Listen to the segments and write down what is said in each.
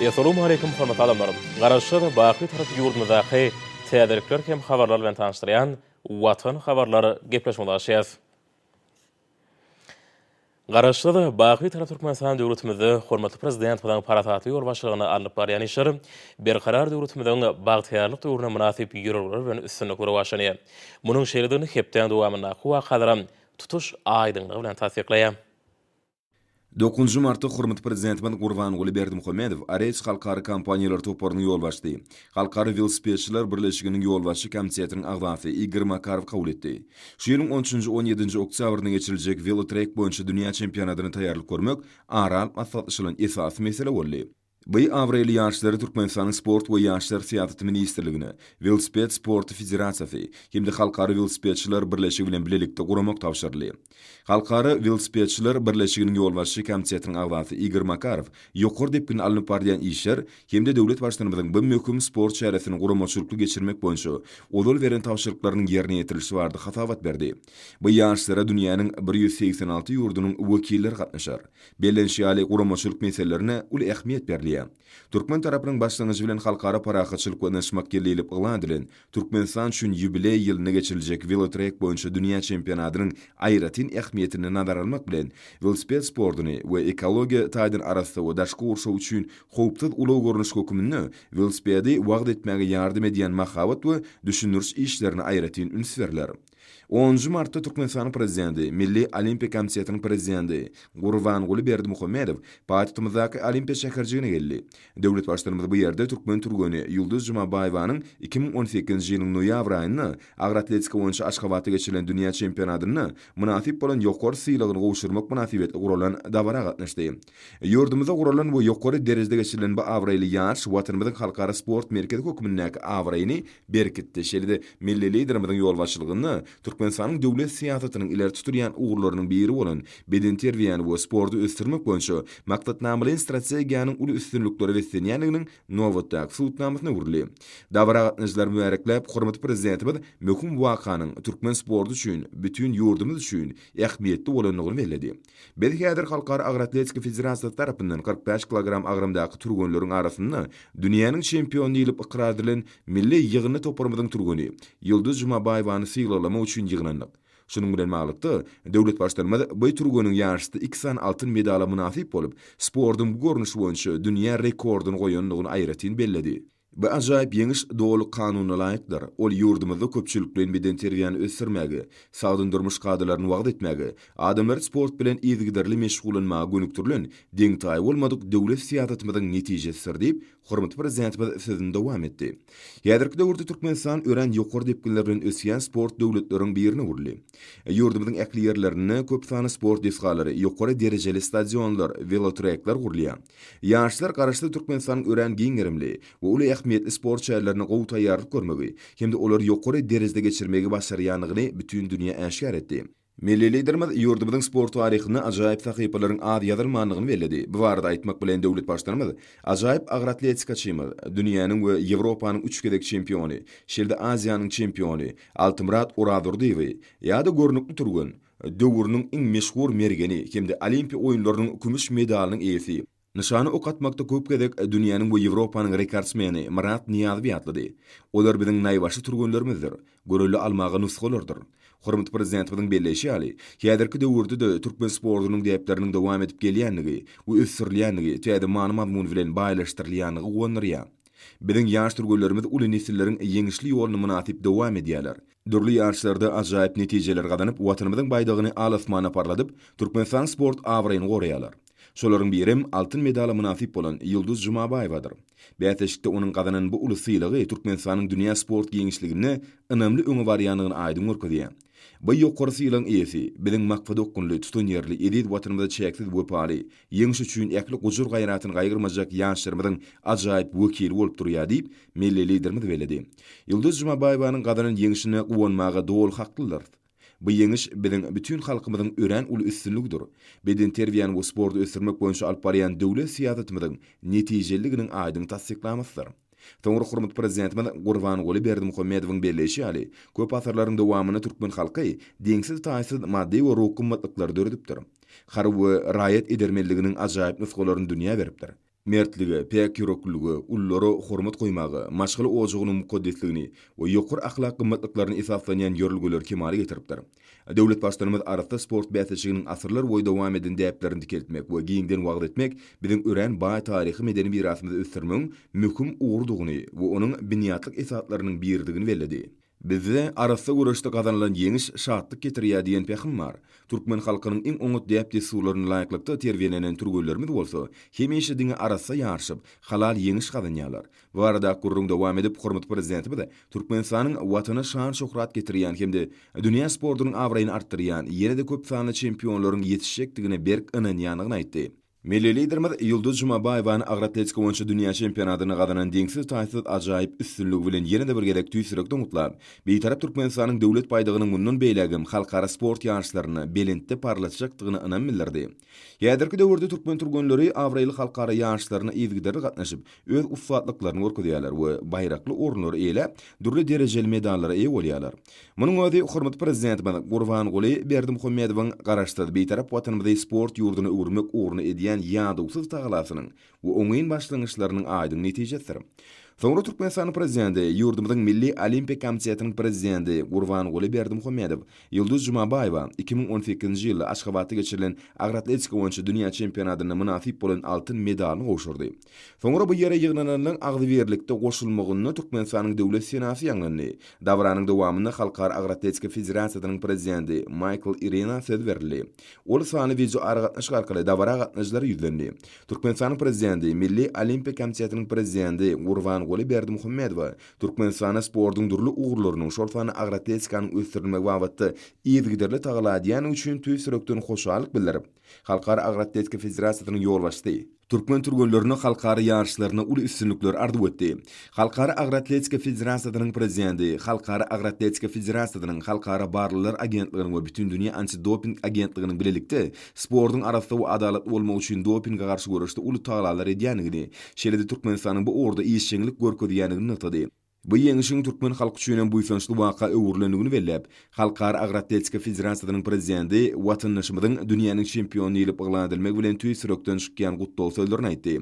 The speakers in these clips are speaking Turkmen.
Essalamu aleýkum hormatly adamlarym! Garaşsyz, baky Türk ýurdumyzdaky täzelikler hem habarlar bilen tanyşdyrýan Watan habarlar gepleşigimize gaşýas. Garaşsyz, baky Türk Türkmenistan döwletimizde hormatly Prezidentimiziň parasatly ýolbaşçylygynda alnyp barýan işler Berkarar döwletimiziň bagtyýarlyk döwrüne mynasyp ýörelgeler bilen üstünlikli rowaçlanýar. Munuň şeýledigini hepdäň dowamyndaky wakalaram tutuş aýdyňlygy bilen tassyklaýar. Dokuzynjy martda hormatly Prezidentimiz Gurbanguly Berdimuhamedow Areç halkara kompaniýalar toparynyň ýolbaşçysy, Halkara welosipedçiler birleşiginiň ýolbaşçy komitetiniň agzasy Igor Makarowy kabul etdi. Şu ýylyň on üçünji, on ýedinji oktýabrynda geçiriljek Welotrek boýunça dünýä çempionatyna taýýarlyk görmek ara alyp maslahatlaşylan esasy mesele boldy. Bu abraýly ýaşlary Türkmenistanyň Sport we ýaşlar syýasaty ministrligine, Welosiped sporty federasiýasy hem-de Halkara welosipedçiler birleşigi bilen bilelikde guramak tabşyryldy. Halkara welosipedçiler birleşiginiň ýolbaşçy komitetiniň agzasy Igor Makarow ýokary depginde alnyp barylýan işler hem-de döwlet Baştutanymyzyň bu möhüm sport çäresini guramaçylykly geçirmek boýunça ozal beren tabşyryklarynyň ýerine ýetirilişi barada hasabat berdi. Bu ýaşlara dünýäniň bir ýüz segsen alty ýurdunyň wekilleri gatnaşar. Bellenişi ýaly, guramaçylyk meselelerine uly ähmiýet berilýär. Türkmen tarapynyň başlangyjy bilen Halkara parahatçylyk we ynaşmak ýyly diýlip yglan edilen, Türkmenistan üçin ýubileý ýylynda geçiriljek welotrek boýunça dünýä çempionatynyň aýratyn ähmiýetini nazara almak bilen, welosiped sportuny we ekologiýa taýdan arassa we daşky gurşaw üçin howpsuz ulag görnüşi höküminde welosipedi wagyz etmäge ýardam edýän mahabat we düşündiriş işlerine aýratyn üns berler. Onunjy martda Türkmenistanyň Prezidenti, Milli Olimpiýa komitetiniň Prezidenti Gurbanguly Berdimuhamedow paýtagtymyzdaky Olimpiýa şäherjigine geldi. Döwlet Baştutanymyz bu ýerde türkmen türgeni Ýulduz Jumabaýewanyň iki müň on sekizinji ýylyň noýabr aýynda agyr atletika boýunça Aşgabatda geçirilen dünýä çempionatynda mynasyp bolan ýokary sylagyny gowşurmak mynasybetli guralan dabara gatnaşdy. Ýurdumyzda guralan we ýokary derejede geçirilen bu abraýly ýaryş Watanymyzyň halkara sport merkezi hökmündäki abraýyny berkitdi, şeýle-de milli Liderimiziň ýolbaşçylygynda Türkmenistanyň döwlet syýasatynyň ileri tutulýan ugurlarynyň biri bolan bedenterbiýäni we sporty ösdürmek boýunça maksatnamalaýyn strategiýanyň uly üstünliklere beslenýändiginiň nobatdaky subutnamasyna öwrüldi. Dabara gatnaşyjylar mübärekläp, hormatly Prezidentimiz möhüm wakanyň türkmen sporty üçin bütin ýurdumyz üçin ähmiýetli bolandygyny belledi. Biz häzir Halkara agyr atletika federasiýasy tarapyndan kyrk bäş kilogram agramdaky türgenleriň arasynda dünýäniň çempiony diýlip ykrar edilen milli ýygyndy toparymyzyň türgeni Ýulduz Jumabaýewany sylaglamak üçin ýygnandyk. Şunuň bilen baglylykda, döwlet Baştutanymyz bu türgeniň ýaryşda iki sany altyn medala mynasyp bolup, sportuň bu görnüşi boýunça dünýä rekordyny goýandygyny aýratyn belledi. Bu ajaýyp ýeňiş doly kanuna laýykdyr, ol ýurdumyzda köpçülikleýin bedenterbiýäni ösdürmäge, sagdyn durmuş kadalaryny wagyz etmäge, adamlary sport bilen yzygiderli meşgullanmaga gönükdirilen deňtaýy bolmadyk döwlet syýasatymyzyň netijesidir diýip, hormatly Prezidentimiz sözüni dowam etdi. Häzirki döwürde Türkmenistan örän ýokary depginler bilen ösýän sport döwletleriň birine öwrüldi. Ýurdumyzyň ähli ýerlerinde köp sanly sport desgalary, ýokary derejeli stadionlar, welotrekler gurulýar. Ýaşlar Garaşsyz Türkmenistanyň örän giň gerimli we uly ähmiýetli sport şäherlerine gowy taýýarlyk görmegi hem-de olary ýokary derejede geçirmegi başarýandygyny bütin dünýä äşgär etdi. Milli Liderimiz ýurdumyzyň sport taryhynda ajaýyp sahypalaryň az ýazylmandygyny belledi. Bu barada aýtmak bilen döwlet Baştutanymyz ajaýyp agroatletikaçymyz, dünýäniň we Ýewropanyň üç gezek çempiony, şeýle-de Aziýanyň çempiony Altymyrat Orazurdyýewi ýa-da görnükli türgen, Döwrüniň iň meşhur mergeni hem-de Olimpiýa oýunlarynyň kümüş medalynyň eýesi, nyşana ok atmakda köp gezek dünýäniň we Ýewropanyň rekordsmeni Myrat Nyýazowy ýatlady. Olar biziň naýbaşy türgenlerimizdir, görelde almaga nusgalardyr. Hormatly Prezidentimiziň belleýşi ýaly, häzirki döwürde-de türkmen sportunyň däpleriniň dowam edip gelýändigi we ösdürilýändigi, täze many-mazmun bilen baýlaşdyrylýandygy guwandyrýar. Biziň ýaş türgenlerimiz uly nesilleriň ýeňişli ýoluny mynasyp dowam edýärler. Dürli ýaryşlarda ajaýyp netijeler gazanyp, Watanymyzyň baýdagyny al-asmana parladyp, Türkmenistanyň sport abraýyny goraýarlar. Şolaryň birem altyn medala mynasyp bolan Ýulduz Jumabaýewadyr. Bäsleşikde onuň gazanan bu uly sylagy Türkmenistanyň dünýä sport giňişliginde ynamly öňe barýandygyny aýdyň görkezýär. Bu ýokary sylagyň eýesi, biziň maksadaokgunly, tutanýerli, eziz Watanymyza çäksiz wepaly, Ýeňiş üçin ähli gujur-gaýratyny gaýgyrmajak ýaşlarymyzyň ajaýyp wekili bolup durýar diýip, milli Liderimiz belledi. Ýulduz Jumabaýewanyň gazanan ýeňşine guwanmaga doly haklydyrys. Bu ýeňiş biziň bütin halkymyzyň örän uly üstünligidir, bedenterbiýäni we sporty ösdürmek boýunça alyp barýan döwlet syýasatymyzyň netijeliliginiň aýdyň tassyklamasydyr. Soňra hormatly Prezidentimiz Gurbanguly Berdimuhamedowyň belleýşi ýaly, köp asyrlaryň dowamynda türkmen halky deňsiz-taýsyz maddy we ruhy gymmatlyklary döredipdir. Harby we raýat edermenliginiň ajaýyp nusgalaryny dünýä beripdir. Mertlige, päk ýüreklilige, ululara hormat goýmaga, maşgala ojagynyň mukaddesligini we ýokary ahlak gymmatlyklaryna esaslanýan ýörelgeleri kemala getiripdir. Döwlet Baştutanymyz arassa sport bäsleşiginiň asyrlar boýy dowam eden däplerini dikeltmek we giňden wagyz etmek biziň örän baý taryhy-medeni mirasymyzy ösdürmegiň möhüm ugrudygyny we onuň binýatlyk esaslarynyň biridigini belledi. Bizde arassa göreşde gazanylan ýeňiş şatlyk getirýär diýen pähim bar. Türkmen halkynyň iň oňat däp-dessurlaryna laýyklykda terbiýelenen türgenlerimiz bolsa hemişe diňe arassa ýaryşyp, halal ýeňiş gazanýarlar. Bu barada ak gürrüň dowam edip, hormatly Prezidentimiz Türkmenistanyň Watana şan-şöhrat getirýän hem-de dünýä sportunyň abraýyny artdyrýan, ýene-de köp sanly çempionlaryň ýetişjekdigine berk ynanýandygyny aýtdy. Milli Liderimiz Ýulduz Jumabaýewany agyr atletika boýunça dünýä çempionatynda gazanan deňsiz-taýsyz ajaýyp üstünligi bilen ýene-de bir gezek tüýs ýürekden gutlap, Bitarap Türkmenistanyň Döwlet baýdagynyň mundan beýlägem halkara sport ýaryşlarynda belentde parlatjakdygyna ynam bildirdi. Häzirki döwürde türkmen türgenleri abraýly halkara ýaryşlaryna yzygiderli gatnaşyp, öz ussatlyklaryny görkezýärler we baýrakly orunlary eýeläp, dürli derejeli medallara eýe bolýarlar. Munuň özi hormatly Prezidentimiz Gurbanguly Berdimuhamedowyň Garaşsyz, Bitarap Watanymyzy sport ýurduna öwürmek ugrunda edýän ýadawsyz tagalasynyň Bu oňyn başlangyçlarynyň aýdyň netijesidir. Soňra Türkmenistanyň Prezidenti, ýurdumyzyň Milli Olimpiýa komitetiniň Prezidenti Gurbanguly Berdimuhamedow, Ýulduz Jumabaýewa iki müň on sekizinji ýylda Aşgabatda geçirilen agroatletika boýunça dünýä çempionatynda mynasyp bolan altyn medalyny gowşurdy. Soňra bu ýere ýygnananlaryň agzybirlikde goşulmagynda Türkmenistanyň Döwlet senasy ýaňlandy. Dabaranyň dowamynda Halkara agroatletika federasiýasynyň prezidenti Maýkl Irena söz berildi. Ol sanly wideoaragatnaşyk arkaly dabara gatnaýjylara ýüzlendi. Türkmenistanyň Prezidenti Milli Olimpiýa komitetiniň Prezidenti Gurbanguly Berdimuhamedowa Türkmenistana sportuň dürli ugurlarynyň, şol sanda agroatletikanyň ösdürilmegi babatda yzygiderli tagalla edýändigi üçin tüýs ýürekden hoşallyk bildirip, Halkara agroatletika federasiýasynyň ýolbaşçysy, türkmen türgenlerine halkara ýaryşlarynda uly üstünlikler arzuw etdi. Halkara agroatletika federasiýasynyň Prezidenti Halkara agroatletika federasiýasynyň, Halkara barlaglar agentliginiň we Bütindünýä antidoping agentliginiň bilelikde sportuň arassa we adalatly bolmagy üçin dopinge garşy göreşde uly tagalalar edýändigini, şeýle-de Türkmenistanyň bu ugurda işjeňlik görkezýändigini nygtady. Bu ýeňişiň türkmen halky üçin hem buýsançly waka öwrülendigini belläp, Halkara agyr atletika federasiýasynyň prezidenti watandaşymyzyň dünýäniň çempiony diýlip yglan edilmegi bilen tüýs ýürekden çykýan gutlag sözlerini aýtdy.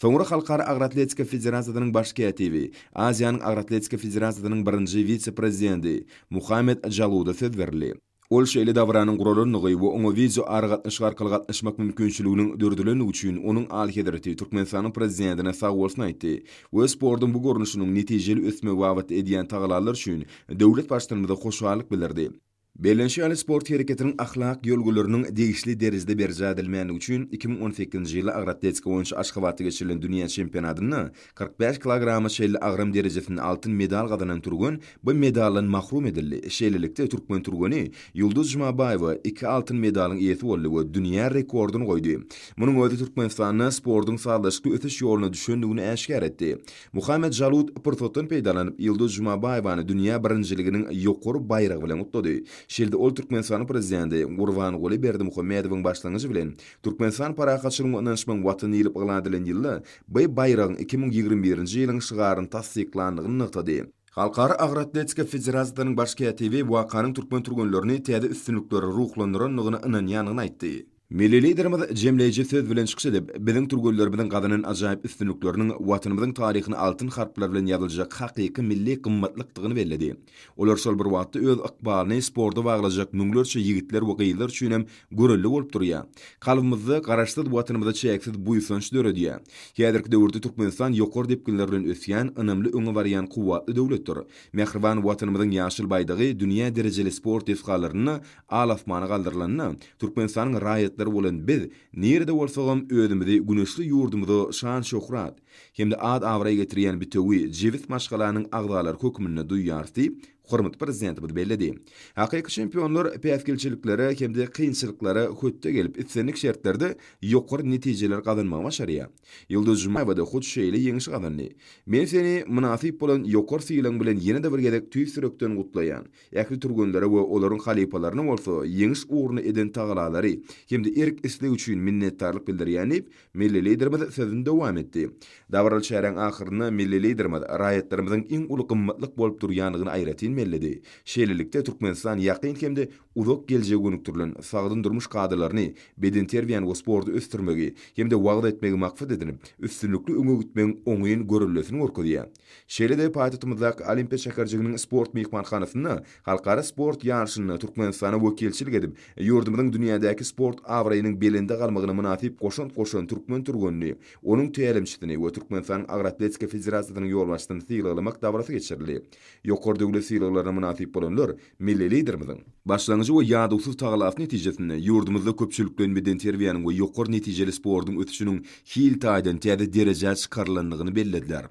Soňra Halkara agyr atletika federasiýasynyň baş kätibi, Aziýanyň agyr atletika federasiýasynyň birinji wise-prezidenti Muhammet Jaluda söz berildi. Ol şeýle dabaranyň guralandygy we oňa wideo aragatnaşyk arkaly gatnaşmak mümkinçiliginiň döredilendigi üçin onuň Alyhezreti Türkmenistanyň Prezidentine sagbolsun aýtdy we sportuň bu görnüşiniň netijeli ösmegi babatda edýän tagalallary üçin döwlet Baştutanymyza hoşallyk bildirdi. Bellenşi ýaly, sport hereketiniň ahlak ýörgüleriniň degişli derejede berjaý edilmändigi üçin iki müň on sekizinji ýyl agyr atletika boýunça Aşgabatda geçirilen dünýä çempionatynda Kyrk bäş kilograma çenli agram derejesinde altyn medal gazanan türgen bu medaldan mahrum edildi. Şeýlelikde, türkmen türgeni Ýulduz Jumabaýewa iki altyn medalyň eýesi boldy we dünýä rekordyny goýdy. Munuň özi Türkmenistanda sportuň sazlaşykly ösüş ýoluna düşendigini äşgär etdi. Muhammet Žalut pursatdan peýdalanyp, Ýulduz Jumabaýewany dünýä birinjiliginiň ýokary baýragy bilen gutlady. Şeýle-de ol Türkmenistanyň Prezidenti Gurbanguly Berdimuhamedowyň başlangyjy bilen Türkmenistan parahatçylygyň we ynanyşmagyň Watany diýlip yglan edilen ýylda B baýragyň iki müň ýigrimi birinji ýylyň şygaryny tassyklandygyny nygtady. Halkara agyr atletika federasiýasynyň baş kätibi wakanyň türkmen türgenlerini täze üstünliklere ruhlandyrandygyna ynanýandygyny aýtdy. Milli Liderimiz jemleýji söz bilen çykyş edip, biziň türgenlerimiziň gazanan ajaýyp üstünlikleriniň Watanymyzyň taryhyna altyn harplar bilen ýazyljak hakyky milli gymmatlykdygyny belledi. Olar şol bir wagtda öz ykbalyny sporta baglajak müňlerçe ýigitler we gyzlar üçin hem görelde bolup durýar. Kalbymyzda Garaşsyz Watanymyza çäksiz buýsanç döredýär. Häzirki döwürde Türkmenistan ýokary depginler bilen ösýän, ynamly öňe barýan kuwwatly döwletdir. Mähriban Watanymyzyň ýaşyl baýdagy dünýä derejeli sport desgalarynda al-asmana galdyrylanda, Türkmenistanyň raýatlary bolan biz nirede bolsagam özümizi güneşli ýurdumyza şan-şöhrat, hem-de ad-abraý getirýän bitewi jebis maşgalanyň agzalary hökmünde duýýarys diýip, hormatly Prezidentimiz belledi. Hakyky çempionlar päsgelçiliklere hem-de kynçylyklara hötde gelip, islendik şertlerde ýokary netijeleri gazanmagy başarýar. Ýulduz Jumaýewa-da hut şeýle ýeňişi gazandy. Men seni mynasyp bolan ýokary sylagyň bilen ýene-de bir gezek tüýs ýürekden gutlaýan. Ähli türgenlere we olaryň halypalaryna bolsa ýeňiş ugruna eden tagallalary hem-de erk-islegi üçin minnetdarlyk bildirýän diýip, Milli Liderimiz sözüni dowam etdi. Dabaraly çäräň ahyrynda milli Liderimiz raýatlarymyzyň iň uly gymmatlyk bolup durýandygyny aýratyn belledi. Şeýlelikde, Türkmenistan ýakyn hem-de uzak geljege gönükdirilen sagdyn durmuş kadalaryny, bedenterbiýäni we sporty ösdürmegi hem-de wagyz etmegi maksat edinip, üstünlikli öňe gitmegiň oňyn görellesini görkezýär. Şeýle-de paýtagtymyzdaky Olimpiýa şäherjiginiň sport myhmanhanasynda halkara sport ýaryşynda Türkmenistana wekilçilik edip, ýurdumyzyň dünýädäki sport abraýynyň belende galmagyna mynasyp goşant goşan türkmen türgenini, onuň tälimçisini we Türkmenistanyň Agyr atletika federasiýasynyň ýolbaşçysyny sylaglamak dabarasy geçirildi. Ýokary döwlet sylaglaryna mynasyp bolanlar Milli Liderimiziň başlangyjy we ýadawsyz tagallasy netijesinde ýurdumyzda köpçülikleýin bedenterbiýäniň we ýokary netijeli sportuň ösüşiniň hil taýdan täze derejä çykarylandygyny bellediler.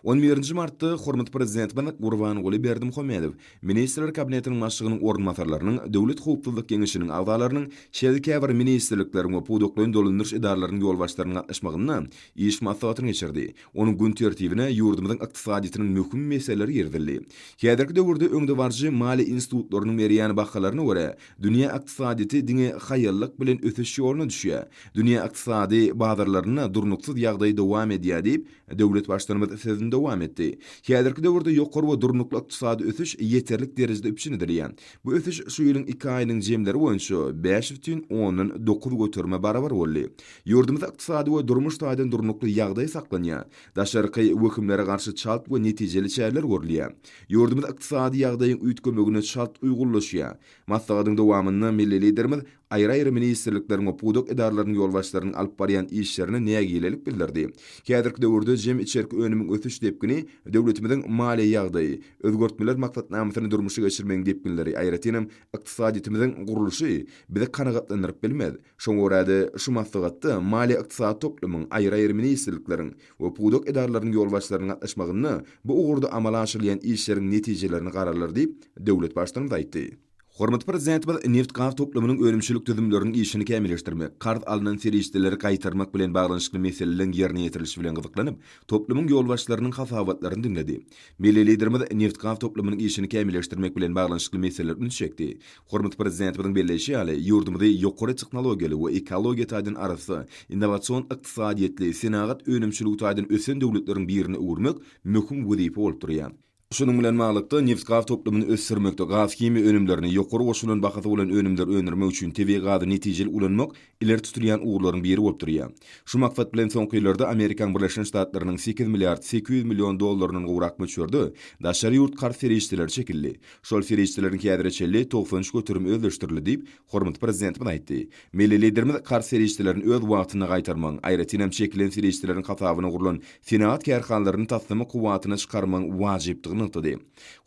On birinji martda hormatly Prezidentimiz Gurbanguly Berdimuhamedow Ministrler Kabinetiniň Başlygynyň orunbasarlarynyň, Döwlet howpsuzlyk geňeşiniň agzalarynyň, şeýle-de käbir ministrlikleriň we pudaklaýyn dolandyryş edaralarynyň ýolbaşçylarynyň gatnaşmagynda iş maslahatyny geçirdi. Onuň gün tertibine ýurdumyzyň ykdysadyýetiniň möhüm meseleleri girizildi. Häzirki döwürde öňdebaryjy maliýe institutlarynyň berýän bahalaryna görä, dünýä ykdysadyýeti diňe haýallyk bilen ösüş ýoluna düşýär. Dünýä ykdysady bazarlarynda durnuksyz ýagdaý dowam edýär diýip, döwlet Baştutanymyz sözüni dowam etdi. Häzirki döwürde ýokary we durnukly ykdysady ösüş ýeterlik derejede üpjün edilýär. Bu ösüş şu ýylyň iki aýynyň jemleri boýunça bäş bütin ondan dokuz göterime barabar boldy. Ýurdumyzda ykdysady we durmuş taýdan durnukly ýagdaý saklanýar. Daşarky wehimlere garşy çalt we netijeli çäreler görülýär. Ýurdumyz ykdysady ýagdaýyň üýtgemegine çalt uýgunlaşýar. Maslahatyň dowamynda milli Liderimiz Aýry-aýry ministrlikleriň we pudak edaralarynyň ýolbaşçylarynyň alyp barýan işlerine nägilelik bildirdi. Häzirki döwürde jem içerki önümiň ösüş depgini döwletimiziň maliýe ýagdaýy, özgertmeler maksatnamasyny durmuşa geçirmegiň depginleri, aýratynam ykdysadyýetimiziň gurluşy bizi kanagatlandyryp bilmez. Şoňa görä-de, şu maslahatda maliýe-ykdysady toplumyň, aýry-aýry ministrlikleriň we pudak edaralarynyň ýolbaşçylarynyň gatnaşmagynda bu ugurda amala aşyrylýan işleriň netijelerini garalar diýip, döwlet Baştutanymyz aýtdy. Hormatly Prezidentimiz neft-gaz toplumynyň önümçilik düzümleriniň işini kämilleşdirmek, karz alnan serişdeleri gaýtarmak bilen baglanyşykly meseleleriň ýerine ýetirilişi bilen gyzyklanyp, toplumyň ýolbaşçylarynyň hasabatlaryny diňledi. Milli Liderimiz neft-gaz toplumynyň işini kämilleşdirmek bilen baglanyşykly meselelere ünsi çekdi. Hormatly Prezidentimiziň belleýşi ýaly, ýurdumyzy ýokary tehnologiýaly we ekologiýa taýdan arassa, innowasion ykdysadyýetli, senagat önümçiligi taýdan ösen döwletleriň birine öwürmek möhüm wezipe bolup durýar. Şunuň bilen baglylykda, nebitgaz toplumyny ösdürmekde gazhimiýa önümlerini, ýokary goşulan bahasy bolan önümleri öndürmek üçin tebigy gazy netijeli ulanmak ileri tutulýan ugurlaryň biri bolup durýar. Şu maksat bilen soňky ýyllarda Amerikaň Birleşen Ştatlarynyň sekiz milliard sekiz ýüz million dollaryndan gowrak möçberde daşary ýurt karz serişdeleri çekildi. Şol serişdeleriň häzire çenli togsan üç göterim özleşdirildi diýip, Hormatly Prezidentimiz aýtdy, Milli Liderimiz karz serişdelerini öz wagtynda gaýtarmagyň, aýratyn hem çekilen serişdeleriň hasabyna gurlan senagat kärhanalaryny taslama kuwwatyna çykarmagyň wajypdygyny nygtady.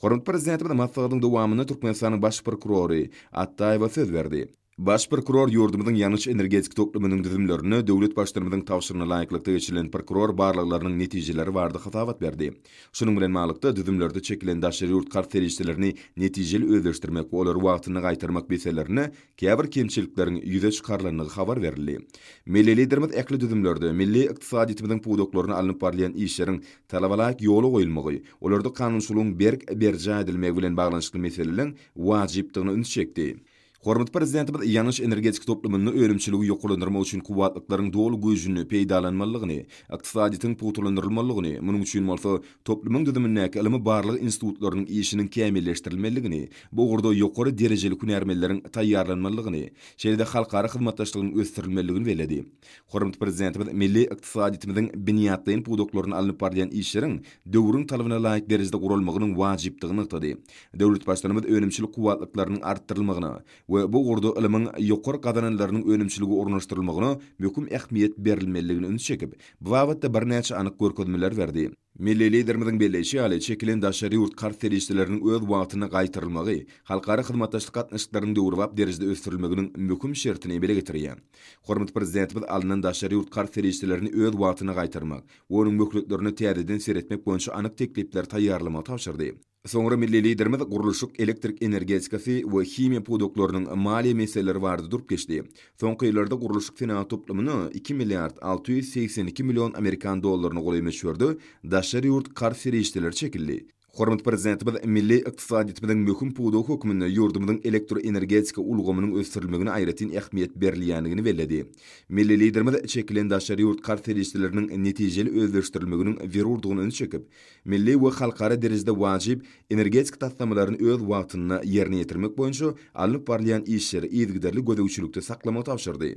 Hormatly Prezidentimiz maslahatyň dowamynda Türkmenistanyň Baş prokurory Atdaýewa söz berdi. Baş prokuror ýurdumyzyň ýangyç-energetik toplumynyň düzümlerinde döwlet Baştutanymyzyň tabşyrygyna laýyklykda geçirilen prokuror barlaglarynyň netijeleri barada hasabat berdi. Şunuň bilen baglylykda, düzümlerde çekilen daşary ýurt karz serişdelerini netijeli özleşdirmek we olary wagtynda gaýtarmak meselelerinde käbir kemçilikleriň ýüze çykarylandygy habar berildi. Milli Liderimiz ähli düzümlerde milli ykdysadyýetimiziň pudaklaryna alnyp barylýan işleriň talabalaýyk ýola goýulmagy, olarda kanunçylygyň berk berjaý edilmegi bilen baglanyşykly meseleleriň wajypdygyna ünsi çekdi. Hormatly Prezidentimiz ýangyç energetika toplumynda önümçiligi ýokarlandyrmak üçin kuwwatlyklaryň doly güýjüni peýdalanmalydygyny, ykdysadyýetiň pugtalandyrylalydygyny, munuň üçin bolsa toplumyň düzümindäki ylmy-barlag institutlarynyň işiniň kämilleşdirilmelidigini, bu ugurda ýokary derejeli hünärmenleriň taýýarlanmalydygyny, şeýle-de halkara hyzmatdaşlygynyň ösdürilmelidigini belledi. Hormatly Prezidentimiz milli ykdysadyýetimiziň binýatlaýyn pudaklarynda alnyp barylýan işleriň döwrüň talabyna laýyk derejede guralmagynyň wajypdygyny nygtady. Döwlet Baştutanymyz önümçilik kuwwatlyklarynyň artdyrylmagyna we bu ugurda ylmyň ýokary gazananlarynyň önümçilige ornaşdyrylmagyna möhüm ähmiýet berilmelidigine ünsi çekip, bu babatda birnäçe anyk görkezmeler berdi. Milli Liderimiziň belleýşi ýaly, çekilen daşary ýurt karz serişdeleriniň öz wagtynda gaýtarylmagy halkara hyzmatdaşlyk gatnaşyklarynyň döwrebap derejede ösdürilmeginiň möhüm şertini emele getirýär. Hormatly Prezidentimiz alnan daşary ýurt karz serişdelerini öz wagtynda gaýtarmak we onuň möhletlerine täzeden seretmek boýunça anyk teklipleri taýýarlamagy tabşyrdy. Soňra milli Liderimiz gurluşyk, elektrik energetikasy we himiýa pudaklarynyň maliýe meseleleri barada durup geçdi. Soňky ýyllarda gurluşyk senagat toplumyna iki milliard alty ýüz segsen iki million amerikan dollaryna golaý möçberde daşary ýurt karz serişdeleri çekildi. Hormatly Prezidentimiz milli ykdysadyýetimiziň möhüm pudagy hökmünde ýurdumyzyň elektroenergetika ulgamynyň ösdürilmegine aýratyn ähmiýet berilýändigini belledi. Milli Liderimiz çekilen daşary ýurt karz serişdeleriniň netijeli özleşdirilmeginiň zerurdygyny üns çekip, Milli we halkara derejede wajyp energetik taslamalaryny öz wagtynda ýerine ýetirmek boýunça alnyp barylýan işleri yzygiderli gözegçilikde saklamagy tabşyrdy.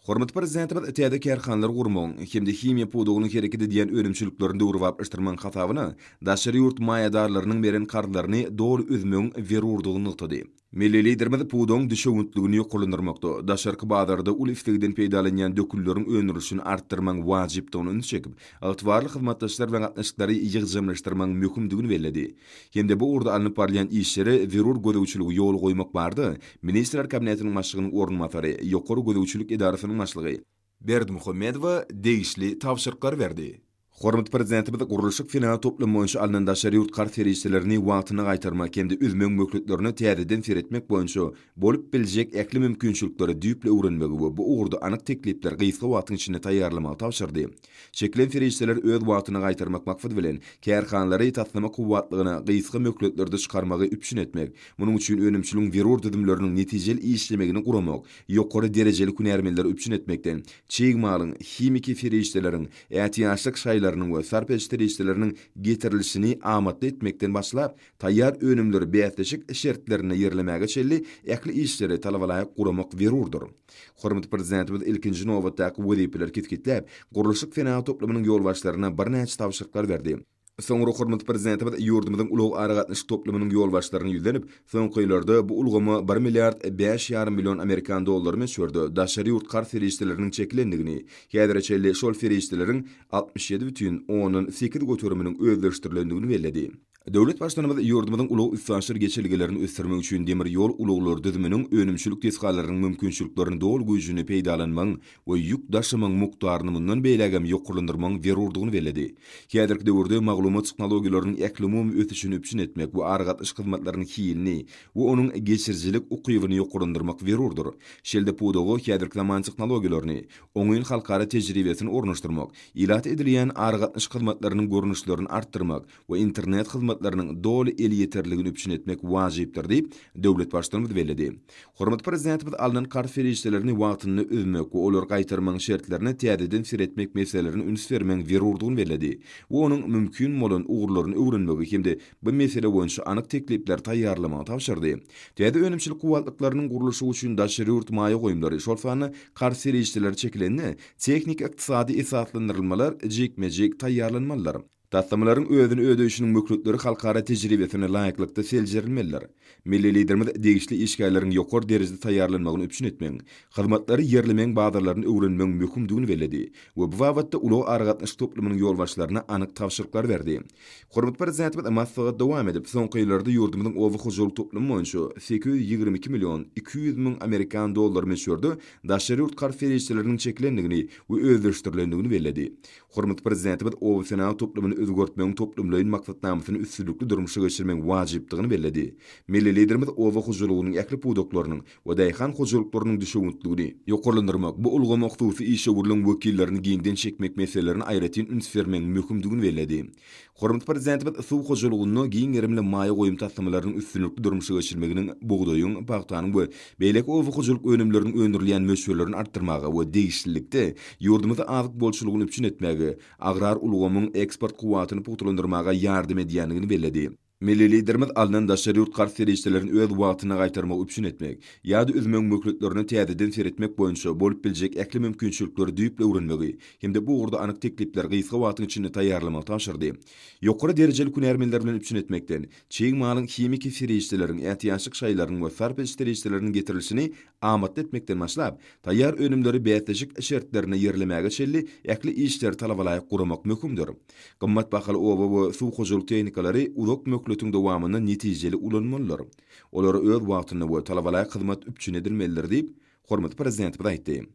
Hormatly Prezidentimiz täze kärhanalary gurmagyň hem-de himiýa pudagynyň hereket edýän önümçiliklerini döwrebaplaşdyrmagyň hasabyna daşary ýurt maýadarlarynyň beren karzlaryny doly üzmegiň zerurdygyny nygtady. Milli Liderimiz pudagyň düşewüntligini ýokarlandyrmakda, daşarky bazarda uly islegden peýdalanýan dökünleriň öndürilişini artdyrmagyň wajypdygyna ünsi çekip, ygtybarly hyzmatdaşlar bilen gatnaşyklary ýygjamlaşdyrmagyň möhümdigini belledi hem-de bu ugurda alnyp barylýan işlere zerur gözegçiligi ýola goýmak barada Ministrler Kabinetiniň Başlygynyň orunbasary, Ýokary gözegçilik edarasynyň başlygy, Berdimuhamedowa degişli tabşyryklary berdi. Hormatly Prezidentimiz gurluşyk-senagat toplumy boýunça alnan daşary ýurt karz serişdelerini wagtynda gaýtarmak hem-de üzmegiň möhletlerine täzeden seretmek boýunça bolup biljek ähli mümkinçilikleri düýpli öwrenmegi we bu ugurda anyk teklipleri gysga wagtyň içinde taýýarlamagy tabşyrdy. Çekilen serişdeleri öz wagtynda gaýtarmak maksady bilen, kärhanalary taslama kuwwatlygyna gysga möhletlerde çykarmagy üpjün etmek, munuň üçin önümçiligiň zerur düzümleriniň netijeli işlemegini guramak, ýokary derejeli hünärmenleri üpjün etmekde çig malyň, himiki serişdeleriň, ätiýaçlyk şaýlarynyň we sarp-ediş serişdeleriniň getirilişini amatly etmekden başlap, taýýar önümleri bäsleşik şertlerinde ýerlemäge çenli ähli işleri talabalaýyk guramak zerurdyr. Hormatly Prezidentimiz ilkinji nobatdaky wezipeleri kesgitläp, gurluşyk senagaty toplumynyň ýolbaşçylaryna birnäçe tabşyryklar berdi. Soňra hormatly Prezidentimiz ýurdumyzyň ulag-aragatnaşyk toplumynyň ýolbaşçylaryna ýüzlenip, soňky ýyllarda bu ulgama bir milliard bäş ýarym million amerikan dollary möçberde daşary ýurt karz serişdeleriniň çekilendigini, häzire çenli şol serişdeleriň altmyş ýedi bütin ondan sekiz göteriminiň özleşdirilendigini belledi. Döwlet Baştutanymyz ýurdumyzyň ulag-üstaşyr geçelgelerini ösdürmek üçin demir ýol ulaglary düzüminiň önümçilik desgalarynyň mümkinçiliklerini doly güýjünde peýdalanmagyň we ýük daşamagyň mukdaryny mundan beýlägem ýokarlandyrmagyň zerurdygyny belledi. Häzirki döwürde maglumat tehnologiýalarynyň ählumumy ösüşini üpjün etmek we aragatnaşyk hyzmatlarynyň hilini we onuň geçirijilik ukybyny ýokarlandyrmak zerurdyr. Şeýle-de pudaga häzirki zaman tehnologiýalaryny, oňyn halkara tejribesini ornaşdyrmak, ilat edilýän aragatnaşyk hyzmatlarynyň görnüşlerini artdyrmak, we internet hyzmatlarynyň doly elýeterliligini üpjün etmek wajypdyr diýip, döwlet Baştutanymyz belledi. Hormatly Prezidentimiz alnan karz serişdelerini wagtynda üzmek we olary gaýtarmagyň şertlerine täzeden seretmek meselelerine üns bermegiň zerurdygyny belledi we onuň mümkin bolan ugurlaryny öwrenmegi hem-de bu mesele boýunça anyk teklipleri taýýarlamagy tabşyrdy. Täze önümçilik kuwwatlyklarynyň gurluşygy üçin daşary ýurt maýa goýumlary, şol sanda karz serişdeleri çekilende, tehniki-ykdysady esaslandyrylmalar jikme-jik taýýarlanmalydyr. Taslamalaryň özüni ödeýşiniň möhletleri halkara tejribesine laýyklykda seljerilmelidir. Milli Liderimiz degişli işgärleriň ýokary derejede taýýarlanmagyny üpjün etmegiň, hyzmatlary ýerlemegiň bazarlaryny öwrenmegiň möhümdigini belledi we bu babatda ulag-aragatnaşyk toplumynyň ýolbaşçylaryna anyk tabşyryklary berdi. Hormatly Prezidentimiz maslahaty dowam edip, soňky ýyllarda ýurdumyzyň oba hojalyk toplumy boýunça sekiz ýüz ýigrimi iki million iki ýüz müň amerikan dollary möçberde daşary ýurt karz serişdeleriniň çekilendigini we özleşdirilendigini belledi. Hormatly Prezidentimiz obasenagat toplumyny özgertmegiň toplumlaýyn maksatnamasyny üstünlikli durmuşa geçirmegiň wajypdygyny belledi. Milli Liderimiz oba hojalygynyň ähli pudaklarynyň we daýhan hojalyklarynyň düşewüntligini, ýokarlandyrmak, bu ulgama hususy işewürligiň wekillerini giňden çekmek meselelerini aýratyn üns bermegiň möhümdigini belledi. Hormatly Prezidentimiz suw hojalygynda giň gerimli maýa goýum taslamalarynyň üstünlikli durmuşa geçirilmeginiň bugdaýyň, pagtanyň we beýleki oba hojalyk önümleriniň öndürilýän möçberlerini artdyrmaga we degişlilikde, ýurdumyzda azyk bolçulygyny üpjün etmäge, agrar ulgamyň eksport kuwwatyny pugtalandyrmaga ýardam edýändigini belledi. Milli Liderimiz alnan daşary ýurt karz serişdelerini öz wagtynda gaýtarmagy üpjün etmek ýa-da üzmegiň möhletlerine täzeden seretmek boýunça bolup biljek ähli mümkinçilikleri düýpli öwrenmegi hem-de bu ugurda anyk teklipleri gysga wagtyň içinde taýýarlamagy tabşyrdy. Ýokary derejeli hünärmenler bilen üpjün etmekden, çig malyň, himiki serişdeleriň, ätiýaçlyk şaýlarynyň we sarp ediş serişdeleriniň getirilişini amatly etmekden başlap, taýýar önümleri bäsleşik şertlerinde ýerlemäge çenli ähli işleri talabalaýyk guramak möhümdir. Gymmat bahaly oba we suw hojalyk tehnikalary uzak möhletiň dowamynda netijeli ulanylmalydyr. Olar öz wagtynda we talabalaýyk hyzmat üpjün edilmelidir diýip, hormatly Prezidentimiz aýtdy.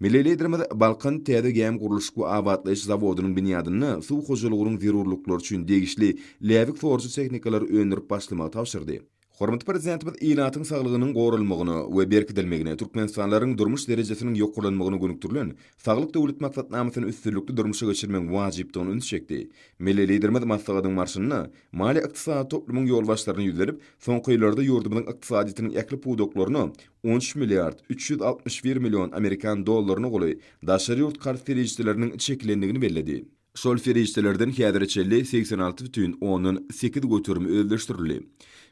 Milli Liderimiz Balkan täze gämi gurluşyk we abatlaýyş zawodynyň binýadynda suw hojalygynyň zerurlyklary üçin degişli läbik sorujy tehnikalary öndürip başlamagy tabşyrdy. Hormatly Prezidentimiz ilatyň saglygynyň goralmagyna we berkidilmegine, türkmenistanlylaryň durmuş derejesiniň ýokarlanmagyna gönükdirilen Saglyk Döwlet maksatnamasyny üstünlikli durmuşa geçirmegiň wajypdygyna üns çekdi. Milli Liderimiz maslahatyň barşynda maliýe-ykdysady toplumyň ýolbaşçylaryna ýüzlenip, soňky ýyllarda ýurdumyzyň ykdysadyýetiniň ähli pudaklaryna on üç milliard üç ýüz altmyş bir million amerikan dollaryna goly daşary ýurt karz serişdeleriniň çekilendigini belledi. Şol serişdelerden häzire çenli segsen alty bütin ondan sekiz göterim özleşdirildi.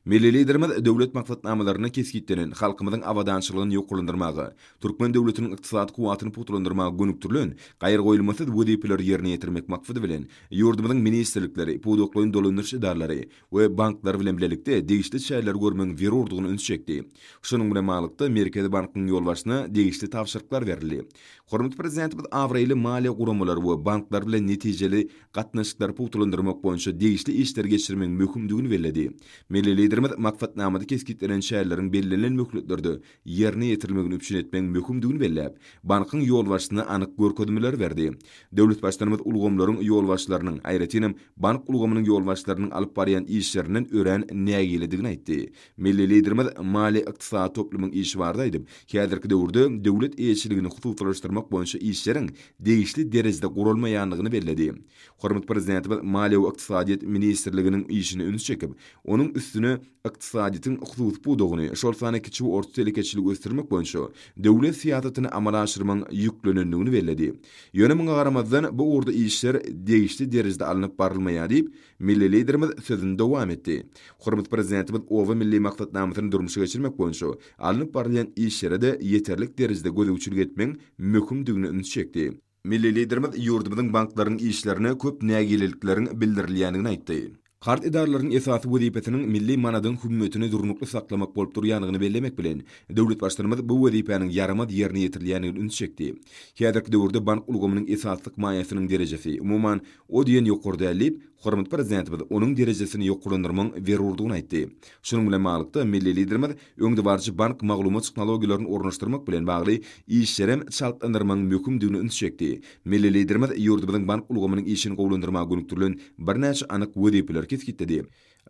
Milli Liderimiz döwlet maksatnamalarynda kesgitlenen halkymyzyň abadançylygyny ýokarlandyrmaga, türkmen döwletiniň ykdysady kuwwatyny pugtalandyrmaga gönükdirilen gaýragoýulmasyz wezipeleri ýerine ýetirmek maksady bilen, ýurdumyzyň ministrlikleri, pudaklaýyn dolandyryş edaralary, we banklar bilen bilelikde degişli çäreleri görmegiň zerurdygyna üns çekdi. Şunuň bilen baglylykda, Merkezi bankyň ýolbaşçysyna degişli tabşyryklar berildi. Hormatly Prezidentimiz abraýly maliýe guramalary we banklar bilen netijeli gatnaşyklary pugtalandyrmak boýunça degişli işleri geçirmegiň möhümdigini belledi. Milli Liderimiz maksatnamada kesgitlenen çäreleriň bellenilen möhletlerde ýerine ýetirilmegini üpjün etmegiň möhümdigini belläp, bankyň ýolbaşçysyna anyk görkezmeleri berdi. Döwletbaştutanymyz ulgamlaryň ýolbaşçylarynyň, aýratynam, bank ulgamynyň ýolbaşçylarynyň alyp barýan işlerinden örän nägiledigini aýtdy. Milli Liderimiz maliýe-ykdysady toplumyň işi barada aýdyp, häzirki döwürde döwlet eýeçiligini hususylaşdyrmak boýunça işleriň degişli derejede guralmaýandygyny belledi. Hormatly Prezidentimiz Maliýe we ykdysadyýet ministrliginiň işine ünsi çekip, onuň üstüne, ykdysadyýetiň hususy pudagyny, şol sanda kiçi we orta telekeçiligi ösdürmek boýunça döwlet syýasatyny amala aşyrmagyň ýüklenendigini belledi. Ýöne muňa garamazdan, bu ugurda işler degişli derejede alnyp barylmaýar diýip, milli Liderimiz sözüni dowam etdi. Hormatly Prezidentimiz Oba milli maksatnamasyny durmuşa geçirmek boýunça alnyp barylýan işlere-de ýeterlik derejede gözegçilik etmegiň möhümdigine ünsi çekdi. Milli Liderimiz ýurdumyzyň banklarynyň işlerine köp nägilelikleriň bildirilýändigini aýtdy. Karz edaralaryň esasy wezipesiniň milli manadyň hümmetini durnukly saklamak bolup durýandygyny bellemek bilen, döwlet Baştutanymyz bu wezipäniň ýaramaz ýerine ýetirilýändigini üns çekdi. Häzirki döwürde bank ulgamynyň esaslyk maýasynyň derejesi, umuman, o diýen ýokary däl diýip, hormatly Prezidentimiz onuň derejesini ýokarlandyrmagyň zerurdygyny aýtdy. Şunuň bilen baglylykda, milli Liderimiz, öňdebaryjy bank maglumat tehnologiýalaryny ornaşdyrmak bilen bagly işlerem çaltlandyrmagyň möhümdigine ünsi çekdi. Milli Liderimiz ýurdumyzyň bank ulgamynyň işini gowulandyrmaga gönükdirilen birnäçe anyk wezipeleri kesgitledi.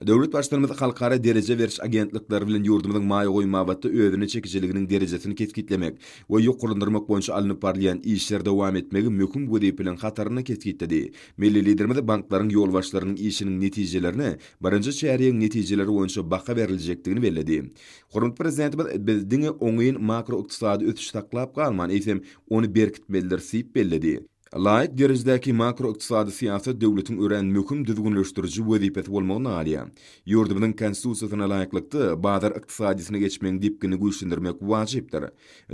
Döwlet Baştutanymyz halkara dereje beriş agentlikleri bilen ýurdumyzyň maýa goýum babatda özüne çekijiliginiň derejesini kesgitlemek we ýokarlandyrmak boýunça alnyp barylýan işleri dowam etmegi möhüm wezipeleriň hatarynda kesgitledi. Milli Liderimiz banklaryň ýolbaşçylarynyň işiniň netijelerine birinji çärýegiň netijeleri boýunça baha beriljekdigini belledi. Hormatly Prezidentimiz biz diňe oňyn makroykdysady ösüşi saklap galman, eýsem, ony berkitmelidiris diýip belledi. Laýyk derejedäki makroykdysady syýasat döwletiň örän möhüm düzgünleşdiriji wezipesi bolmagyny alýar. Ýurdumyzyň Konstitusiýasyna laýyklykda, bazar ykdysadyýetine geçmegiň depginini güýçlendirmek wajypdyr.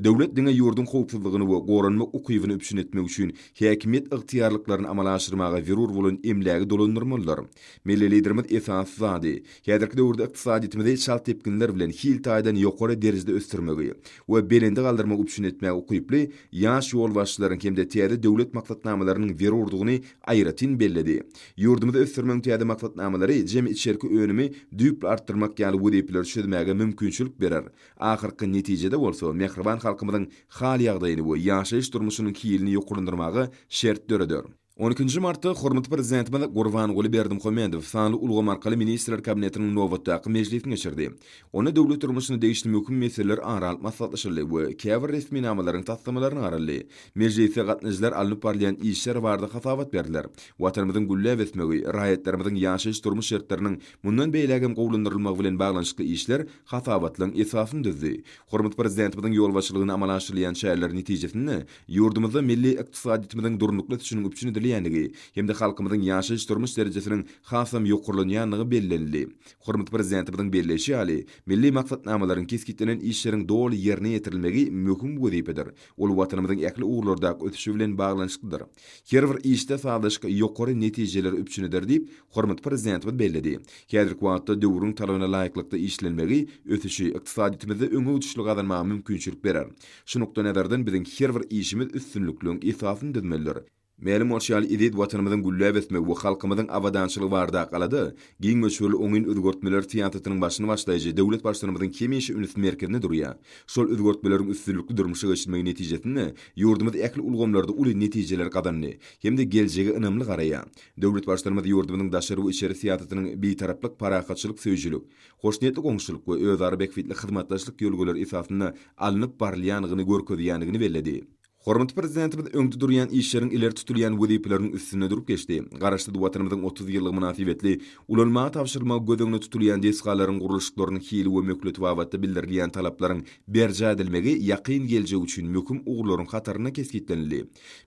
Döwlet diňe ýurduň howpsuzlygyny we goranmak ukybyny üpjün etmek üçin häkimiýet ygtyýarlyklaryny amala aşyrmaga zerur bolan emlägi dolandyrmalydyr. Milli Liderimiz esasy zady, häzirki döwürde ykdysadyýetimizi çalt depginler bilen hil taýdan ýokary derejede ösdürmegi we belende galdyrmagy üpjün etmäge ukyply ýaş ýolbaşçylaryň hem-de täze döwlet maksatnamalarynyň zerurdygyny aýratyn belledi. Ýurdumyzy ösdürmegiň täze maksatnamalary jemi içerki önümi düýpli artdyrmak ýaly wezipeleri çözmäge mümkinçilik berer, ahyrky netijede bolsa mähriban halkymyzyň hal-ýagdaýyny we ýaşaýyş-durmuşynyň hilini ýokarlandyrmaga şert döreder. On ikinji martda hormatly Prezidentimiz Gurbanguly Berdimuhamedow sanly ulgam arkaly Ministrler Kabinetiniň nobatdaky mejlisini geçirdi. Onda döwlet durmuşyna degişli möhüm meseleler ara alyp maslahatlaşyldy we käbir resminamalaryň taslamalaryna garaldy. Mejlisde gatnaşyjylar alnyp barylýan işler barada hasabat berdiler. Watanymyzyň gülläp ösmegi, raýatlarymyzyň ýaşaýyş-durmuş şertleriniň mundan beýläk hem gowulandyrylmagy bilen baglanyşykly işler hasabatlaryň esasyny düzdi. Hormatly Prezidentimiziň ýolbaşçylygynda amala aşyrylýan çäreler netijesinde Ýurdumyzda milli ykdysadyýetimiziň durnukly ösüşiniň üpjün edilýändigi hem-de halkymyzyň ýaşaýyş-durmuş derejesiniň hasam ýokarlanýandygy bellenildi. Hormatly Prezidentimiziň belleýşi ýaly, milli maksatnamalaryň, kesgitlenen işleriň doly ýerine ýetirilmegi möhüm wezipedir, ol Watanymyzyň ähli ugurlardaky ösüşi bilen baglanyşyklydyr. Her bir işde sazlaşyk ýokary netijeleri üpjün eder diýip, hormatly Prezidentimiz belledi. Häzirki wagtda döwrüň talabyna laýyklykda işlenmegi ösüşi, ykdysadyýetimizde öňegidişli gazanmaga mümkinçilik berer. Şu nukdaýnazardan biziň her bir işimiz üstünlikliň esasyny düzmelidir. Mälim bolşy ýaly, eziz Watanymyzyň gülläp ösmegi we halkymyzyň abadançylygy barada Galada giň möçberli oňyn özgertmeler syýasatynyň başyny başlaýjy döwlet Baştutanymyzyň hemişe üns merkezinde durýar. Şol özgertmeleriň üstünlikli durmuşa geçirilmegi netijesinde ýurdumyz ähli ulgamlarda uly netijeler gazandy hem-de geljege ynamly garaýar. Döwlet Baştutanymyz ýurdumyzyň daşary we içeri syýasatynyň bitaraplyk, parahatçylyk söýüjilik, hoşniýetli goňşuçylyk we özara bähbitli hyzmatdaşlyk ýörelgeleri esasynda alnyp barylýandygyny görkezýändigini belledi. Hormatly Prezidentimiz öňde durýan işleriň, ileri tutulýan wezipeleriň üstünde durup geçdi, Garaşsyz Watanymyzyň otuz ýyllygy mynasybetli ulanmaga tabşyrylmagy göz öňünde tutulýan desgalaryň gurluşyklarynyň hili we möhleti babatda bildirilýän talaplaryň berjaý edilmegi ýakyn geljek üçin möhüm ugurlaryň hatarynda kesgitlenildi.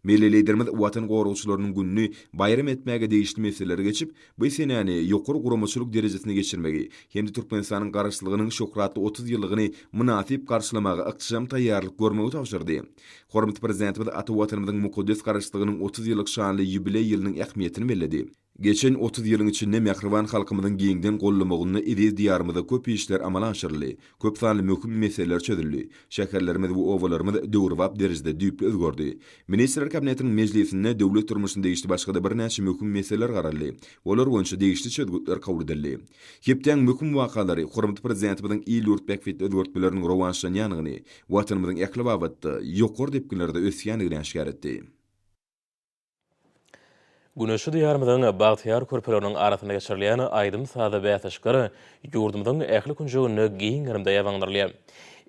Milli Liderimiz Watan goragçylarynyň gününi baýram etmäge degişli meseleleri geçip, Bu senäni ýokary guramaçylyk derejesinde geçirmegi hem-de Türkmenistanyň Garaşsyzlygynyň şöhratly otuz ýyllygyny mynasyp garşylamaga ygtyşam taýýarlyk görmegi tabşyrdy. Hormatly Prezidentimiz ata Watanymyzyň mukaddes Garaşsyzlygynyň otuz ýyllyk şanly ýubileý ýylynyň ähmiýetini belledi. Geçen otuz ýylyň içinde mähriban halkymyzyň giňden gollamagynda eziz Diýarymyzda köp işler amala aşyryldy, Köp sanly möhüm meseleler çözüldi. Şäherlerimiz we obalarymyz döwrebap derejede düýpli özgerdi. Ministrler Kabinetiniň mejlisinde döwlet durmuşyna degişli başga-da birnäçe möhüm meseleler garaldy, olar boýunça degişli çözgütler kabul edildi. Hepdäň möhüm wakalary hormatly Prezidentimiziň il-ýurt bähbitli özgertmeleriniň rowaçlanýandygyny, Watanymyzyň ähli babatda ýokary depginlerde ösýändigini äşgär etdi. Güneşli Diýarymyzyň bagtyýar körpeleriniň arasynda geçirilýän aýdym-sazy bäsleşikler ýurdumyzyň ähli künjeginde giň gerimde ýabaňdyrylýar.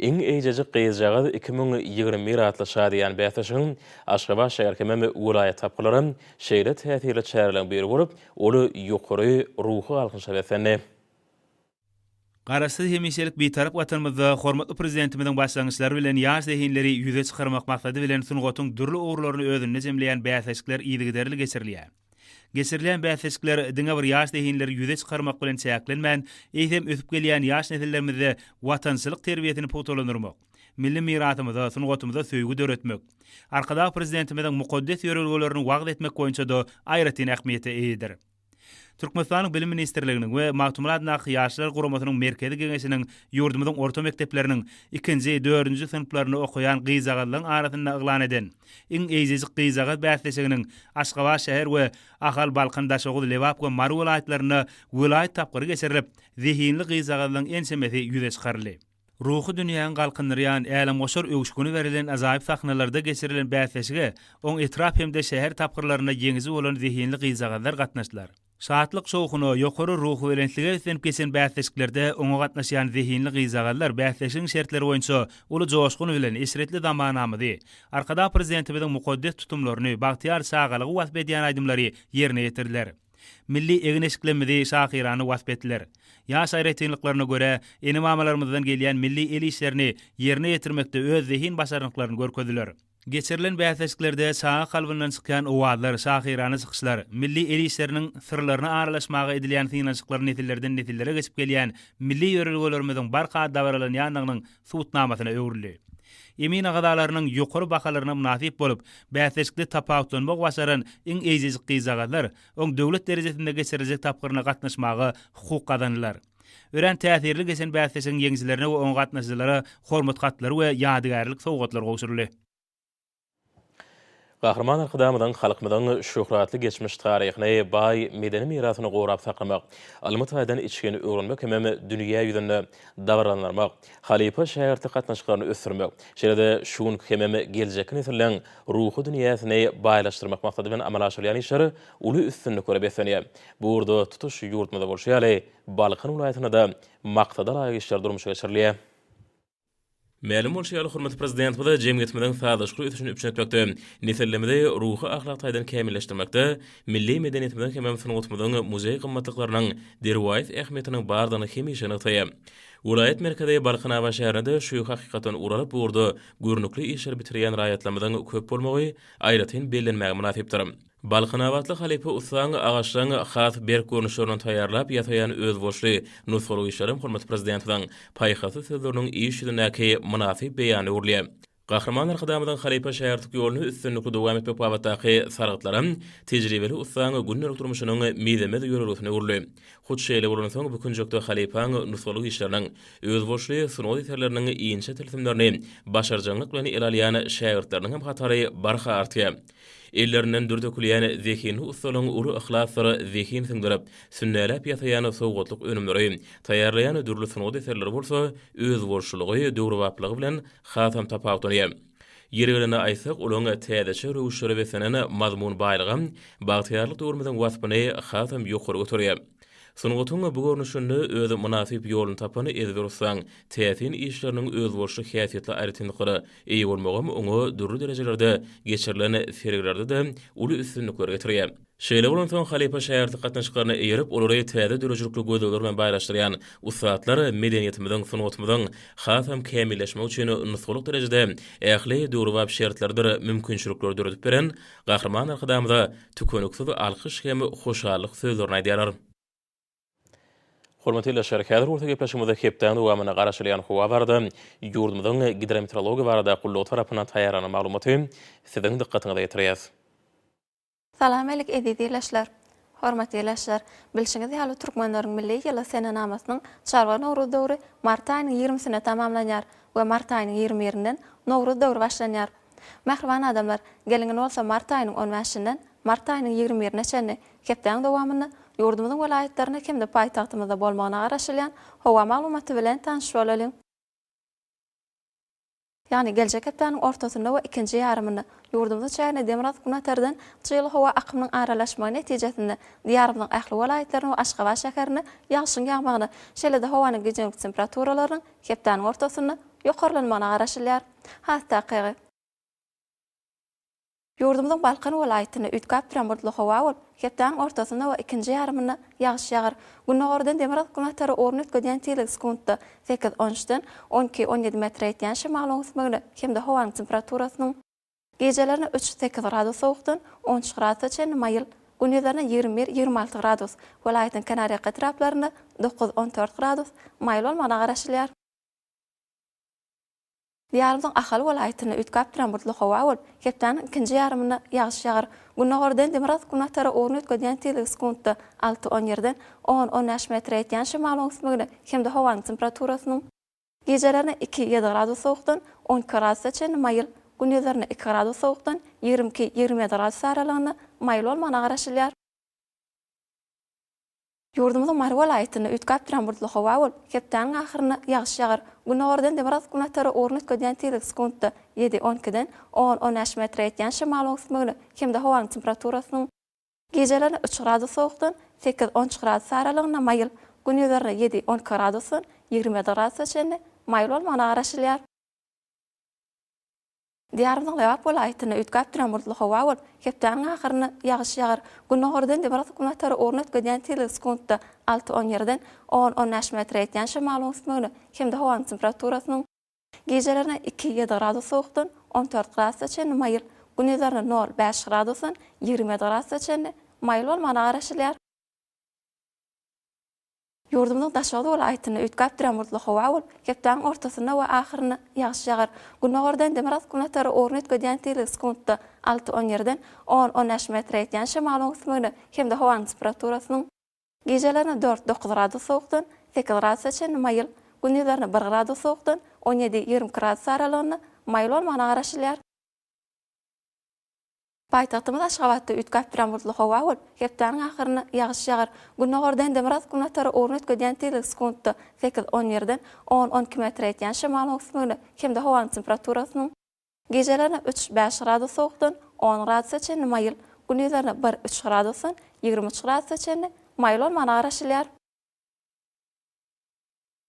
Iň eýjejik gyzjagaz iki müň ýigrimi bir atly şadyýan bäsleşigiň Aşgabat şäher hemem welaýat tapgyrlary şeýle täsirli çäreleriň biri bolup, ol ýokary ruhy galkynyşa beslendi. Garaşsyz hemişelik Bitarap Watanymyzda hormatly Prezidentimiziň başlangyçlary bilen ýaş zehinleri ýüze çykarmak maksady bilen sungatyň dürli ugurlaryny özünde jemleýän bäsleşikler yzygiderli geçirilýär. Geçirilýän bäsleşikler diňe bir ýaş zehinleri ýüze çykarmak bilen çäklenmän, eýsem ösüp gelýän ýaş nesillerimizde watançylyk terbiýesini pugtalandyrmak, milli mirasymyza, sungatymyza söýgi döretmek, Arkadag Prezidentimiziň mukaddes ýörelgelerini wagyz etmek boýunça-da aýratyn ähmiýete eýedir. Türkmenistanyň Bilim ministrliginiň we Magtymguly Nahy Ýaşlar guramasynyň Merkezi Geňeşiniň ýurdumyzyň orta mekdepleriniň ikinji, dördünji synplarynda okaýan gyzjagazlaryň arasynda yglan eden Iň eýjejik gyzjagaz bäsleşiginiň Aşgabat şäher we Ahal, Balkan, Daşoguz, Lebap we Mary welaýatlarynda welaýat tapgyry geçirilip, zehinli gyzjagazlaryň ençemesi ýüze çykaryldy. Ruhy dünýäňi galkyndyrýan, älemgoşar öwüşgini berilen ajaýyp sahnalarda geçirilen bäsleşige oň etrap hem-de şäher tapgyrlarynda ýeňiji bolan zehinli gyzjagazlar gatnaşdylar. Şatlyk-şowhuna, ýokary ruhubelentlige üslenip geçen bäsleşiklerde oňa gatnaşýan zehinli gyzjagazlar bäsleşigiň şertleri boýunça uly joşgun bilen eşretli zamanamyzy, Arkadag Prezidentimiziň mukaddes tutumlaryny, bagtyýar çagalygy wasp edýän aýdymlary ýerine ýetirdiler. Milli egin-eşiklemmizi şahyrana wasp etdiler. Ýaş aýratynlyklaryna görä, ene-mamalarymyzdan gelýän milli el işlerini ýerine ýetirmekde öz zehin-başarnyklaryny görkezdiler. Geçirilen bäsleşiklerde çaga kalbyndan çykýan owazlar, şahyrana çykyşlar, milli el işleriniň syrlaryna aralaşmaga edilýän synanyşyklar nesillerden-nesillere geçip gelýän milli ýörelgelerimiziň barha dabaralanýandygynyň subutnamasyna öwrüldi. Emin agzalarynyň ýokary bahalaryna mynasyp bolup, bäsleşikde tapawutlanmagy başaran iň eýjejik gyzjagazlar oň döwlet derejesinde geçiriljek tapgyryna gatnaşmaga hukuk gazandylar. Örän täsirli geçen bäsleşigiň ýeňijilerine we oňa gatnaşyjylara hormat hatlary we ýadygärlik sowgatlar gowşuryldy. Gahryman Arkadagymyzyň halkymyzyň şöhratly geçmiş taryhyny, baý medeni mirasyny gorap saklamak, ylmy taýdan içgin öwrenmek hemem dünýä ýüzünde dabaralandyrmak, halypa-şägirtlik gatnaşyklaryny ösdürmek, şeýle-de şu günki hemem geljekki nesilleriň ruhy dünýäsini baýlaşdyrmak maksady bilen amala aşyrylýan işler uly üstünliklere beslenýär. Bu ugurda tutuş ýurdumyzda bolşy ýaly, Balkan welaýatynda-da maksadalaýyk işler durmuşa geçirilýär. Mälim bolşy ýaly, hormatly Prezidentimiz jemgyýetimiziň sazlaşykly ösüşini üpjün etmekde, nesillerimizi ruhy-ahlak taýdan kämilleşdirmekde, milli medeniýetimiziň hemem sungatymyzyň muzeý gymmatlyklarynyň derwaýys ähmiýetiniň bardygyny hemişe nygtaýar. Welaýat merkezi Balkanabat şäherinde-de şu hakykatdan ugur alyp, bu ugurda görnükli işleri bitirýän raýatlarymyzyň köp bolmagy aýratyn bellenmäge mynasypdyr. Balkanabatly halypa ussaň agaçdan has berk görnüşlerini taýýarlap ýasaýan özboluşly nusgalyk işlerem hormatly Prezidentimiziň paýhasly sözleriniň iş ýüzündäki mynasyp beýany öwrülýär. Gahryman Arkadagymyzyň halypa-şägirtlik ýoluny üstünlikli dowam etmek babatdaky salgytlaram tejribeli ussaň gündelik durmuşynyň mizemez ýörelgesine öwrüldi. Hut şeýle bolansoň bu künjekde halypaň nusgalyk işleriniň, özboluşly sungat eserleriniň inçe tilsimlerini başarjaňlyk bilen ele alýan şägirtleriniňem hatary barha artýar. Ellerinden dür dökülýän zehinli ussalaryň uly yhlasdyr zehin siňdirip, sünnäläp ýasaýan sowgatlyk önümleri, taýýarlaýan dürli sungat eserleri bolsa özboluşlylygy, döwrebaplygy bilen hasam tapawutlanýar. Ýeri gelende aýtsak, olaryň täzeçe röwüşlere beslenen mazmun baýlygy bagtyýarlyk döwrümiziň waspyny hasam ýokary göterýär. Sungatyň bu görnüşinde öz mynasyp ýoluny tapan ezber ussaň täsin işleriniň özboluşly häsiýetli aýratynlyklara eýe bolmagam oňa dürli derejelerde geçirilen sergilerde-de uly üstünlikleri getirýär. Şeýle bolansoň, halypa-şägirt gatnaşyklaryna eýerip, olary täze döredijilikli gözlegler bilen baýlaşdyrýan ussatlar medeniýetimiziň, sungatymyzyň hasam kämilleşmegi üçin nusgalyk derejede ähli döwrebap şertleridir mümkinçilikleri döredip beren Gahryman Arkadagymyza tükeniksiz alkyş hem hoşallyk sözlerini aýdýarlar. Hormatly ildeşler, häzir bolsa gepleşigimizde hepdäniň dowamynda garaşylýan howa barada, ýurdumyzyň Gidrometeorologiýa barada gullugy tarapyndan taýýarlanan maglumaty siziň dykgatyňyza ýetirýäs. Salam alik eziz ildeşler! Hormatly ilaçylar! Bilşiňiz ýaly, türkmenleriň milli ýyly senenamasynyň Çarwa Nowruz döwri mart aýynyň ýigrimisinde tamamlanýar we mart aýynyň ýigrimi birinden Nowruz döwri başlanýar. Mähriban adamlar, geliň indi bolsa mart aýynyň on bäşinden mart aýynyň ýigrimi birine çenli hepdäň dowamynda ýurdumyzyň welaýatlarynda hem-de paýtagtymyzda bolmagyna garaşylýan howa maglumaty bilen tanyş bolalyň. ýagny geljek hepdäniň ortasynda we ikinji ýarymynda ýurdumyzyň çägine demirgazyk-günortadan çygly howa akymynyň aralaşmagy netijesinde Diýarymyzyň ähli welaýatlaryna we Aşgabat şäherine ýagşyň ýagmagyna, şeýle-de howanyň gije gündüz temperaturalarynyň hepdäniň ortasynda ýokarlanmagyna garaşylýar. Has takygy. Ýurdumyzyň Balkan welaýatynda üýtgäp duran bulutly howa bolup, hepdäniň ortasynda we ikinji ýarymynda ýagyş ýagar. Gündogardan demirgyz-günbatara orun üýtgedýän tizligi sekuntda sekiz, on üçden on iki, on ýedi metre ýetýän şemalyň ösmegine hem-de howanyň temperaturasynyň, gijelerine üç, sekiz gradus sowukdan on üç gradusa çenli maýyl, gündizlerine ýigrimi bir, ýigrimi alty gradus, welaýatyň kenarýaka etraplarynda dokuz, on dört gradus maýyl bolmagyna garaşylýar. Diýarymyzyň Ahal welaýatynda üýtgäp duran bulutly howa bolup, hepdäniň ikinji ýarymynda ýagyş ýagar. Gündogardan demirgazyk-günbatara ugruny üýtgedýän tizligi sekuntda alty-on ýerden on-on bäş metre ýetýän şemalyň öwüsmegine hem-de howanyň temperaturasynyň, gijelerine iki, ýedi gradus sowukdan on iki gradusa çenli maýyl, gündizlerine iki gradus sowukdan ýigrimi iki, ýigrimi ýedi gradus aralygynda maýyl bolmagyna garaşylýar. Ýurdumyzyň Mary welaýatynda üýtgäp duran bulutly howa bolup, hepdäniň ahyrynda ýagyş ýagar. Gündogardan demirgazyk-günbatara ugruna üýtgedýän tizligi sekuntda ýedi, on ikiden on, on bäş metre ýetýän şemalyň öwüsmegine hem-de howanyň temperaturasynyň, gijeleri üç gradus sowukdan sekiz, on üç gradus aralygynda maýyl, gündizerini ýedi, on iki gradusdan ýigrimi ýedi gradusa çenli maýyl bolmagyna garaşylýar. Diýarymyzyň Lebap welaýatynda üýtgäp duran bulutly howa bolup, hepdäniň ahyrynda ýagyş ýagar. Gündogardan nebarasyk gün batary orun ötgedýän tizligi sekuntda alty-on ýerden on-on bäş metre ýetýän şemalyň üsmegine hem-de howanyň temperaturasynyň, gijelerine iki-ýedi gradus sowukdan on dört gradusa çenli maýyl, gündizlerine nol-bäş gradusdan ýigrimi ýedi gradusa çenli maýyl bolmagyna garaşylýar. Ýurdumyzyň daşoguz welaýatynda üýtgäp duran bulutly howa bolup, hepdäniň ortasynda we ahyrynda ýagyş ýagar. Gündogardan demirgazyk-günbatara orun üýtgedýän tizligi sekuntda alty-on ýerden on-on bäş metre ýetýän şemalyň ösmegine hem-de howanyň temperaturasynyň, gijelerine dört-dokuz gradus sowukdan sekiz gradusa çenli maýyl, gündizlerine bir gradus sowukdan on ýedi-ýigrimi iki gradus aralygynda maýyl bolmagyna garaşylýar. Paýtagtymyz Aşgabatda üýtgäp duran bulutly howa bolup, hepdäniň ahyrynda ýagyş ýagar. Gündogarda Endemyrat günbatara ugruna üýtgedýän tizligi sekuntda sekiz, on birden on-on iki metre ýetýän şemal öwüsmegine hem-de howanyň temperaturasynyň, gijelerine üç, bäş gradus sowukdan on gradusa çenli maýyl, gündizlerine bir, üç gradusdan ýigrimi üç gradusa çenli maýyl bolmagyna garaşylýar.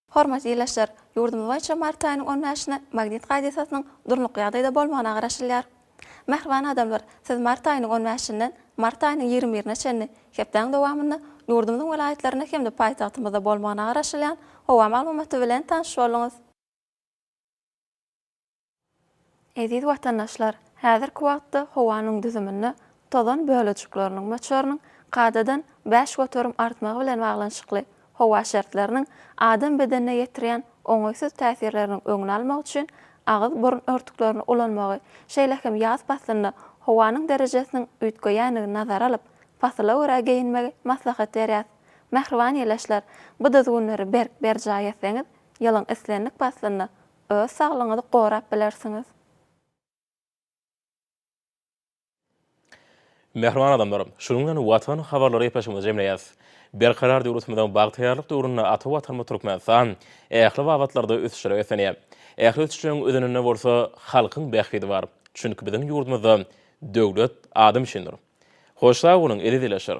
Hormatly ildeşler! Ýurdumyz boýunça mart aýynyň on bäşine magnit hadisasynyň durnukly ýagdaýda bolmagyna garaşylýar. Mähriban adamlar, siz mart aýynyň on bäşinden mart aýynyň ýigrimi birine çenli hepdäň dowamynda ýurdumyzyň welaýatlarynda hem-de paýtagtymyzda bolmagyna garaşylýan howa maglumaty bilen tanyş bolduňyz. Eziz watandaşlar, häzirki wagtda howanyň düzüminde tozan bölejikleriniň möçberiniň kadadan bäş göterim artmagy bilen baglanyşykly howa şertleriniň adam bedenine ýetirýän oňaýsyz täsirleriniň öňüni almak üçin agyz-burun örtüklerini ulanmagy, şeýle hem ýaz paslynda howanyň derejesiniň üýtgeýändigini nazara alyp, pasyla görä geýinmegi maslahat berýäs. Mähriban ýeleşler, bu düzgünleri berk berjaý etseňiz, ýylyň islendik paslynda Öz saglygyňyzy gorap bilersiňiz. Mähriban adamlar, şunuň bilen Watan habarlary gepleşigimizi jemleýäs. Berkarar döwletimiziň bagtyýarlyk döwründe ata Watanymyz Türkmenistan ähli babatlarda ösüşlere beslenýär. Ähli ösüşleriň özeninde bolsa halkyň bähbidi bar. Çünki biziň ýurdumyzda döwlet adam üçindir. Hoş sag boluň, eziz ildeşler!